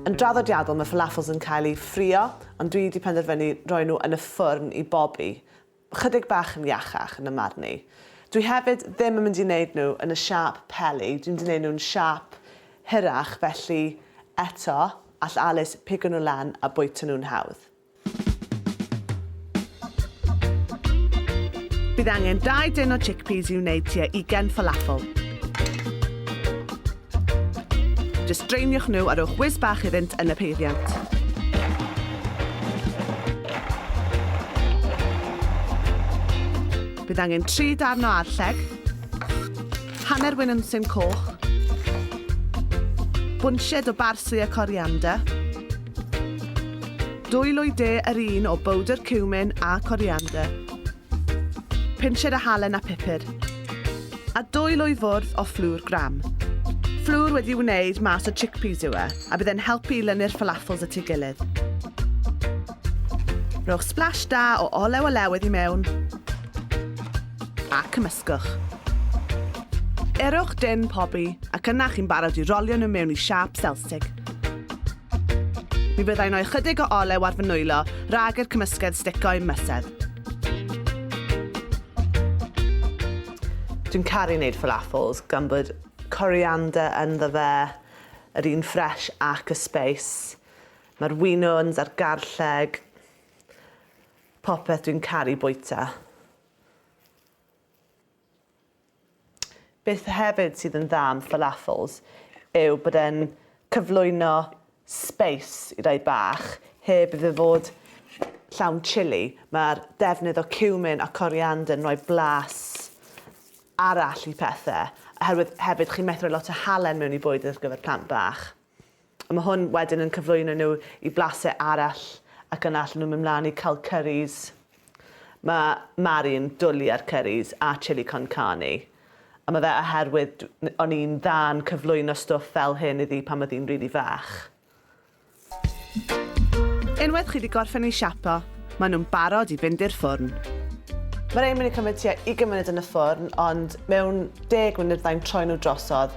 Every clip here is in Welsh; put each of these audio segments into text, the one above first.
Yn draddodiadol, mae falafels yn cael eu ffrio, ond dwi 'di penderfynu roi nhw yn y ffwrn i bobi. Chydig bach yn iachach, yn 'y marn i. Dwi hefyd ddim yn mynd i 'neud nhw yn y siâp peli, dwi'n mynd i 'neud nhw'n siâp hirach, felly, eto, all Alys pigo nhw lan a bwyta nhw'n hawdd. Bydd angen 2 dyn o chickpeas i wneud tua 20 falafel. Just draeniwch nhw a rhowch whiz bach iddynt yn y peiriant. Bydd angen 3 darn o arlleg, hanner wyn yn syn coch, bwnsied o barsley a coriander, Dwy lwy de yr un o bowdr ciwmin a coriander. Pinched o halen a pupur. A dwy lwy fwrdd o fflwr gram. Fflwr wedi wneud mas o chickpeas yw e, a bydd e'n helpu i lynu'r falafels at ei gilydd. Rhowch splash da o olew o lewydd i mewn a cymysgwch. Erwch dyn pobi ac yna chi'n barod i rolio nhw mewn i siâp selsig. Mi fyddai'n rhoi chydig o olew ar fy nwylo rhag i'r cymysgedd stico i'm mysedd. Dwi'n caru wneud falafels gan bod coriander ynddo fe, yr un ffres ac y sbeis. Mae'r winwns a'r garlleg, popeth dwi'n caru bwyta. Beth hefyd sydd yn dda am falafels yw bod e'n cyflwyno sbeis i rai bach heb iddo fod llawn chili. Mae'r defnydd o cumin a coriander yn rhoi blas arall i pethau, oherwydd hefyd chi'n methu rhoi lot o halen mewn i bwyd ar gyfer plant bach. Mae hwn wedyn yn cyflwyno nhw i blasau arall ac yna allan nhw'n mynd mlaen i cael curries. Mae Mari yn dwli ar curries a chili con carne. A mae fe oherwydd o'n i'n dda yn cyflwyno stwff fel hyn iddi pan oedd hi'n rili fach. Unwaith chi 'di gorffen eu siapo, maen nhw'n barod i fynd i'r ffwrn. Mae rhein yn mynd i cymryd tua 20 munud yn y ffwrn ond mewn deg munud fydda i'n troi nhw drosodd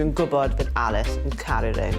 Dwi'n gwybod bydd Alice yn caru rhein.